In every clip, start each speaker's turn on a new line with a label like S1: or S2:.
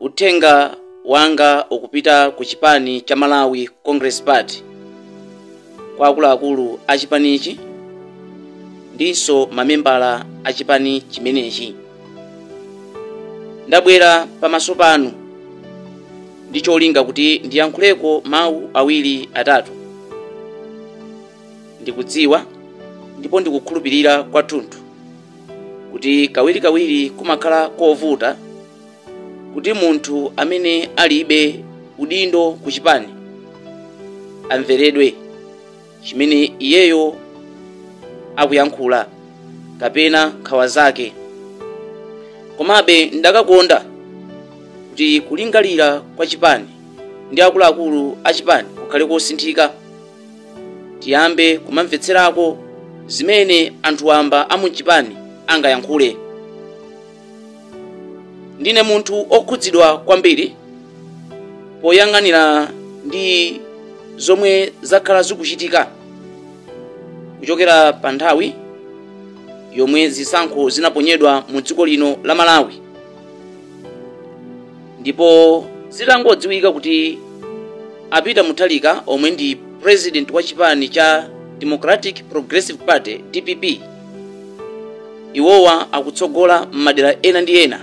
S1: uthenga wanga ukupita ku chipani cha malawi congress party kwa akuluakulu a chipanichi ndinso mamembala a chipani chimenechi ndabwera pamaso panu ndi cholinga kuti ndiyankhuleko mawu awiri atatu ndikudziwa ndipo ndikukhulupirira kwathunthu kuti kawirikawiri kumakhala kovuta kuti munthu amene alibe udindo ku chipani amveredwe chimene iyeyo akuyankhula kapena nkhawa zake komabe ndakakonda kuti kulingalira kwa chipani ndi akuluakulu a chipani kukhale kosinthika tiyambe kumamvetserako zimene anthu wamba a mu chipani angayankhule ndine munthu okhudzidwa kwambiri poyang'anira ndi zomwe zakhala zikuchitika kuchokera pa nthawi yomwe zisankho zinaponyedwa mu dziko lino la malawi ndipo zitangodziwika kuti a peter mutharika omwe ndi president wa chipani cha democratic progressive party dpp Iwowa akutsogola m'madera ena ndi ena.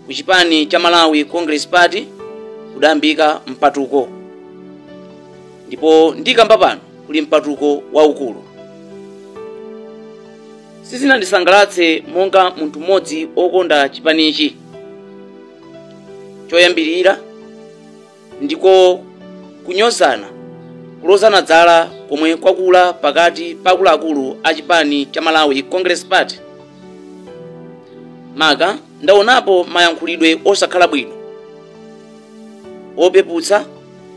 S1: Ku chipani cha Malawi Congress Party kudayambika mpatuko ndipo ndikamba pano kuli mpatuko waukulu. Sizinandisangalatse monga munthu mmodzi okonda chipanichi. Choyambirira ndiko kunyozana, kulozana dzala komwe kwakula pakati pa akuluakulu a chipani cha Malawi Congress Party. Maka ndaonapo mayankhulidwe osakhala bwino opeputsa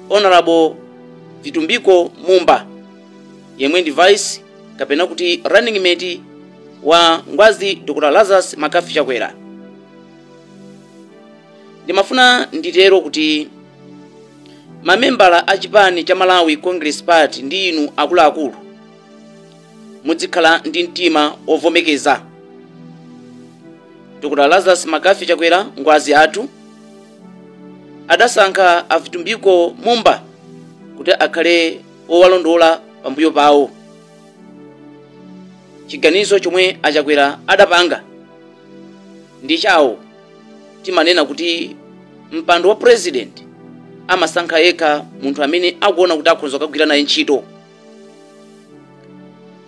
S1: Honorable Vitumbiko Mumba yemwe ndi vice kapena kuti running mate wa Ngwazi Dr. Lazarus McCarthy Chakwera. ndimafuna nditero kuti mamembala a chipani cha malawi congress party ndi inu akuluakulu mudzikhala ndi mtima ovomekeza dr lazarus mccarthy chakwera ngwazi athu adasankha a vitumbiko mumba kuti akhale owalondola pambuyo pawo chiganizo chomwe a chakwera adapanga ndi chawo timanena kuti mpando wa president amasankha yekha munthu amene akuona kuti akhonza kukagwira naye ntchito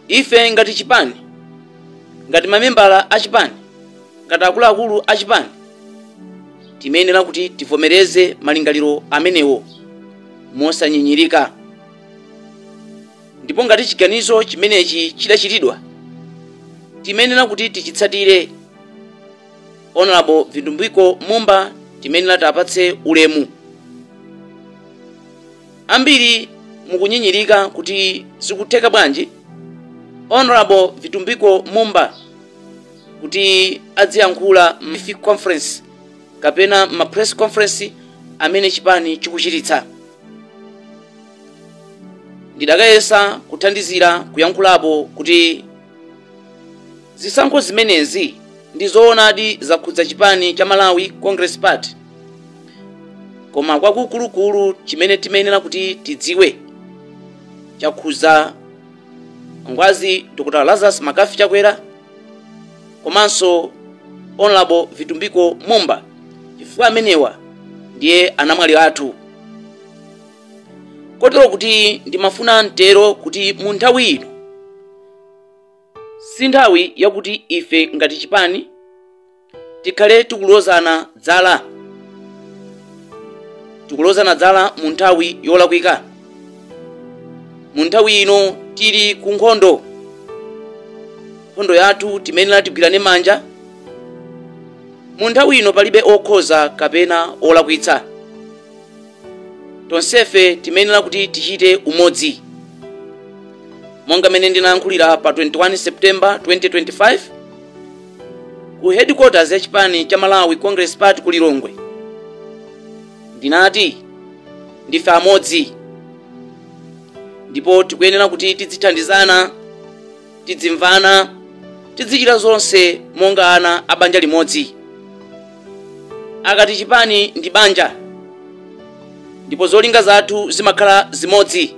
S1: ife ngati chipani ngati mamembala a chipani ngati akuluakulu a chipani timayenera kuti tivomereze malingaliro amenewo mosanyinyirika ndipo ngati chiganizo chimenechi chidachitidwa timayenera kuti tichitsatire honorable vitumbiko mumba timayenera tiwapatse ulemu ambiri mukunyinyirika kuti zikutheka bwanji honorable vitumbiko mumba kuti adziyankhula m'ma conference kapena m'ma press conference amene chipani chikuchititsa ndidakayesa kuthandizira kuyankhulapo kuti Zisankho zimenezi ndi zoonadi zakhudza chipani cha Malawi Congress Party, koma kwakukulukulu chimene timayenera kuti tidziwe chakhudza Ngwazi Dr. Lazarus McCarthy Chakwera komanso Honorable Vitumbiko Mumba chifukwa amenewa ndiye anamwali athu. Kotero kuti ndimafuna nditero kuti mu nthawi ino si nthawi yakuti ife ngati chipani tikhale tikulozana zala tikulozana zala mu nthawi yolakwika mu nthawi ino tili ku nkhondo nkhondo yathu timayenera tigwirane manja mu nthawi ino palibe okhoza kapena olakwitsa tonsefe timayenera kuti tichite umodzi monga mmene ndinayankhulira pa 21 september 2025 ku headquarters ya chipani cha malawi congress party ku lilongwe ndinati ndife amodzi ndipo tikuyenera kuti tidzithandizana tidzimvana tidzichita zonse monga ana a banja limodzi akati chipani ndi banja ndipo zolinga zathu zimakhala zimodzi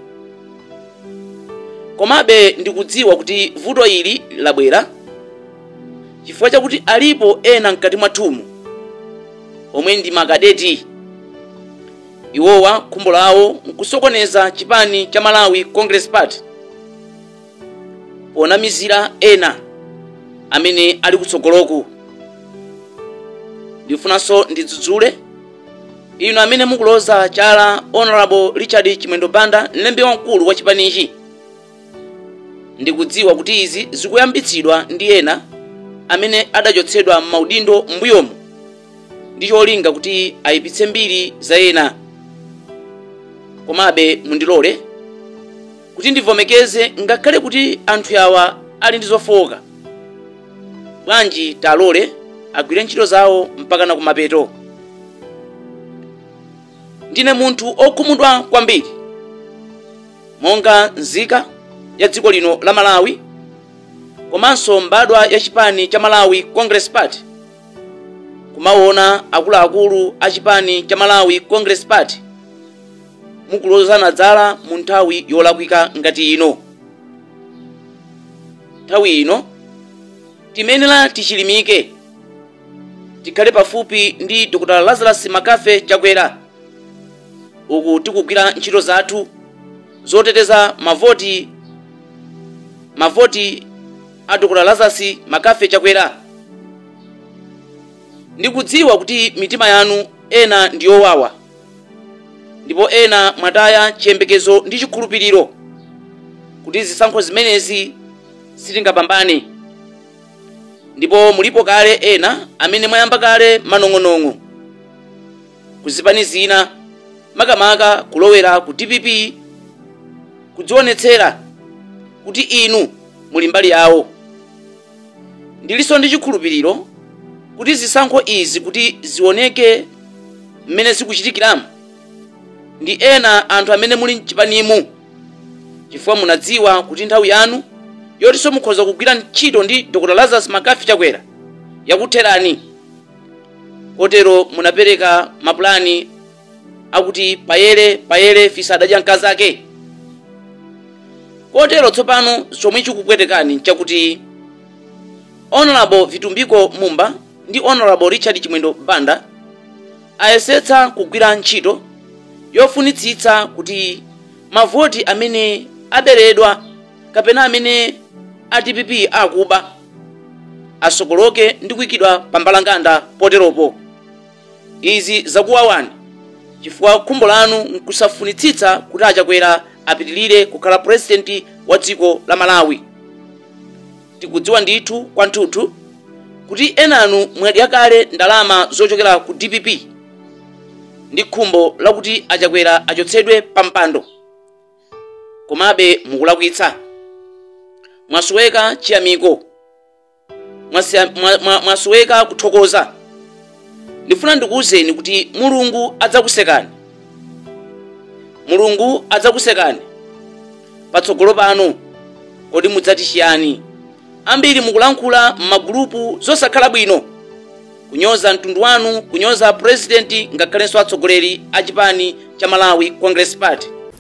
S1: komabe ndikudziwa kuti vuto ili labwera chifukwa chakuti alipo ena mkati mwathumu omwe ndi makadeti iwowa khumbo lawo nkusokoneza chipani cha malawi congress party ponamizira ena amene ali kutsogoloku ndifunanso ndidzudzule inu amene mukuloza chala honorable richard chimwendo banda mlembi wamkulu wa chipanichi ndikudziwa kuti izi zikuyambitsidwa ndi ena amene adachotsedwa m'maudindo m'mbuyomu ndi cholinga kuti ayipitse mbiri za ena komabe mundilole kuti ndivomekeze ngakhale kuti anthu awa ali ndi zofooka bwanji talole agwire ntchito zawo mpakana kumapeto ndine munthu okhumudwa kwambiri monga nzika ya dziko lino la malawi komanso mbadwa ya chipani cha malawi congress party kumaona akuluakulu a chipani cha malawi congress party mukulozana zala mu nthawi yolakwika ngati ino nthawi ino timayenera tichilimike tikhale pafupi ndi dr lazarus mccarthy chakwera uku tikugwira ntchito zathu zoteteza mavoti mavoti a dr lazarus mccarthy chakwera ndikudziwa kuti mitima yanu ena ndiyowawa ndipo ena mwataya chiyembekezo ndi chikhulupiriro kuti zisankho zimenezi sitingapambane ndipo mulipo kale ena amene mwayamba kale manong'onong'o kuzipani zina makamaka kulowera ku dpp kudzionetsera kuti inu muli mbali yawo Ndilinso ndi chikhulupiriro kuti zisankho izi kuti zioneke mmene zikuchitikiramu ndi ena anthu amene muli mchipanimu chifukwa munadziwa kuti nthawi yanu yotinso mukhoza kugwira ntchito ndi Dr. Lazarus McCarthy Chakwera yakutherani kotero munapereka mapulani akuti payere payere fisi adadya mkazake kotero tsopano chomwe chikupwetekani nchakuti honorable vitumbiko mumba ndi honorable richard chimwendo banda ayesetsa kugwira ntchito yofunitsitsa kuti mavoti amene aberedwa kapena amene a dpp akuba asokoloke ndi kuyikidwa pa mbalambanda poteropo Izi zakuwawani chifukwa khumbo lanu nkusafunitsitsa kuti a Chakwera apitilire kukhala president wa dziko la Malawi. Tikudziwa ndithu kwanthuthu kuti enanu mwadya kale ndalama zochokera ku dpp ndi khumbo lakuti a Chakwera achotsedwe pa mpando. Komabe mukulakwitsa. Mwasoweka chiyamiko. mwasoweka kuthokoza ndifuna ndikuwuzeni kuti mulungu adzakusekani mulungu adzakusekani patsogolo pano kodi mudzati chiyani ambiri mukulankhula m'magulupu zosakhala bwino kunyoza mtundu wanu kunyoza purezidenti ngakhalenso atsogoleri a chipani cha malawi congress party